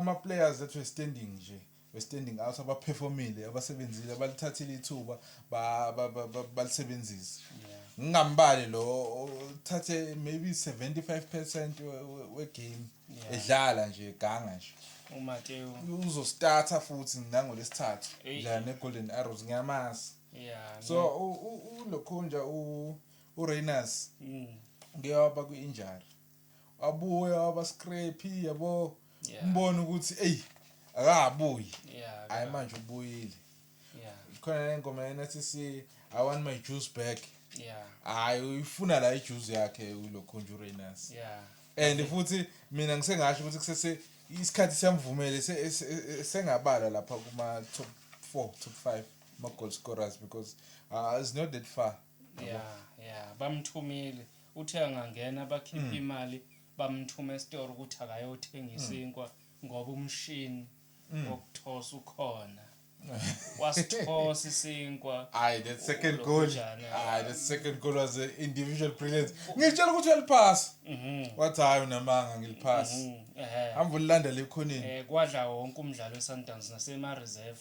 Ama players ethu e standing nje we standing out aba performile abasebenzile abalithathile ithuba balisebenzise ngingambali lo uthathe maybe 75% we game edlala nje ganga nje uMateo uzostarta futhi nango lesithathu la ne Golden Arrows ngiyamazi yeah so ulokhunja u uRainers mm. ngiyawaba kwi-injury wabuya waba scrappy yabo yeah. mbona ukuthi ey akabuyi yeah, hayi manje ubuyile yeah. khona le ngoma yena sithi i want my juice back yeah hayi uyifuna la ijuice yakhe ulo conjurinus yeah and futhi mina ngisengasho ukuthi kusese isikhathi siyamvumele sengabala lapha kuma top 4 top 5 ma goal scorers because uh, it's not that far yeah yeah bamthumile Uthe angangena bakhiphe imali bamthume esitoro ukuthi akayothenga isinkwa ngoba umshini wokuthosa ukhona. Wasithosa isinkwa. Hayi that second goal. Hayi that second goal was an individual brilliance. Ngitshela ukuthi uyaliphasa. Mhm. Wathi hayi unamanga ngiliphasa. Mhm. Ehhe. Hamba ulilanda lekhoneni. Eh kwadla wonke umdlalo weSundowns nasema reserve.